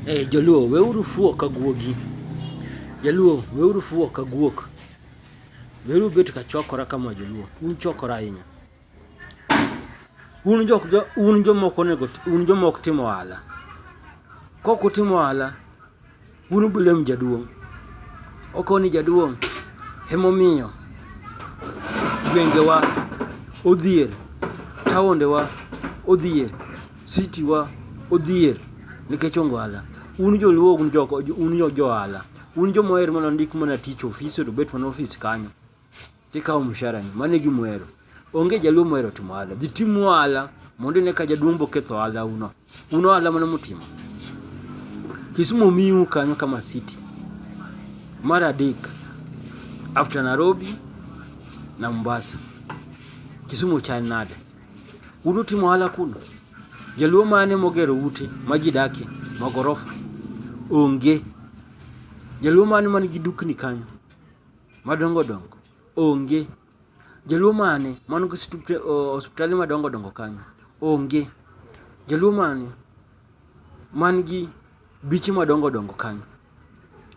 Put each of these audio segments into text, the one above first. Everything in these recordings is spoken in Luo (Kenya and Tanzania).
Hey, joluo weuru fuo ka guogi jaluo weuru fuo ka guok weuru bet ka chokora kama joluo un chokora ahinya un jok jo un jomoko nego un jomoko timo ohala kok utimo ohala un ubilem jaduong' okoni jaduong' emomiyo gwengewa odhier taondewa odhier City wa odhier nikech ongwala. Un joluo un joko un jo johala. Un jo moher mana ndik mana tich office to bet mana office kanyo. Tikawo mshahara ni. Mane gi mwero. Onge jaluo mwero timo ohala. Dhi tim ohala mondo ne ka jaduong' boketho ohala uno. Uno ohala mana mutimo. Kisumu miu kanyo kama city. Mar adek after Nairobi na Mombasa. Kisumu chal nade? Un utimo ohala kuno? Jaluo mane mogero ute ma ji dakie ma gorofa? Onge. Jaluo mane man gi dukni kanyo madongo dongo? Onge. Jaluo mane man gi osiptende madongo dongo kanyo? Onge. Jaluo mane man gi biche madongo dongo kanyo?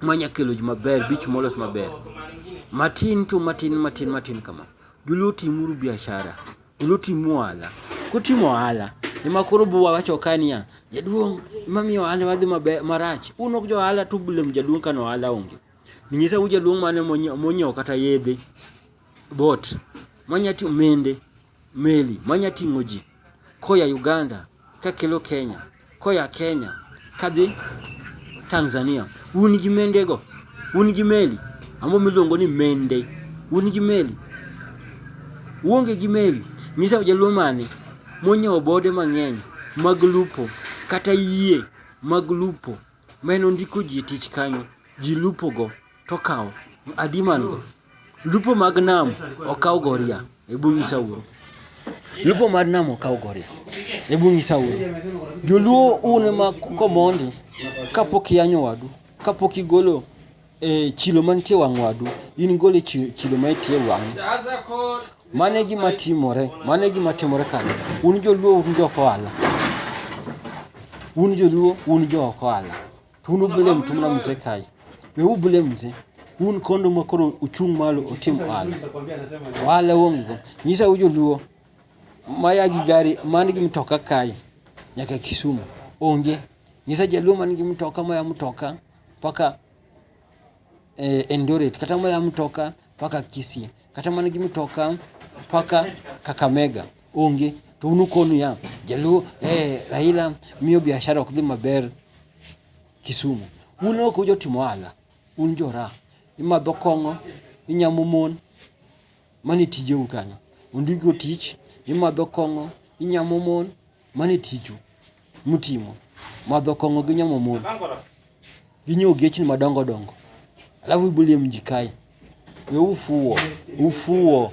ma nya kelo ji maber, beach molos maber. Matin to matin matin matin kama. Joluo timuru biashara, joluo tim ohala. Kutimo ohala, ema koro buwawacho ka niya, jaduong' ema miyo ohandawa dhi maber marach. Un ok jo ohala to ublame jaduong' ka ne ohala onge. Nyisa uru jaduong' mane monyiewo kata yedhe, boat, monyati omende. Meli manya ting'o ji koya Uganda kakelo Kenya, koya Kenya kadhi Tanzania. Un gi mendego, un gi meli ambo miluongo ni mende, un gi meli, uonge gi meli. Nyisa jaluo mane monyawo bode mang'eny mag lupo kata yie mag lupo. Mane ondiko ji e tich kanyo, ji lupo go to okawo. Adi man go? Lupo mag nam okaw goria e bungu Sauro. Lupo mar nam okaw goria e bungu Sauro. Joluo un ma komondi kapok iyanyo wadu, kapok igolo E chilo mantie wang' wadu, in gol e chilo ma itie wang'. Mano e gima timore, mano e gima timore kanyo. Un joluo un jok ohala. Un joluo un jok ohala. To un ubile mtu mna mzee kai. We ubile mzee. Un kondo ma koro uchung' malo utim ohala. Ohala onge go. Nyisa u joluo ma ya gi gari man gi mtoka kai nyaka Kisumu. Onge. Nyisa jaluo man gi mtoka ma ya mtoka mpaka eh, Eldoret, kata mana mtoka mpaka Kisii, kata mana gi mtoka mpaka Kakamega onge to un ukonu ya Jaluo eh, Raila miyo biashara ok dhi maber Kisumu. Un ok ujotimo ohala, un jora, imadho kong'o, inyamo mon, mani tijeu kanyo. Ondiko tich, imadho kong'o, inyamo mon, Mano e tiju mutimo, madho kong'o gi nyamo mon gi nyiewo gechni madongo dongo, alafu ibulie mji kae. We ufuo, ufuo.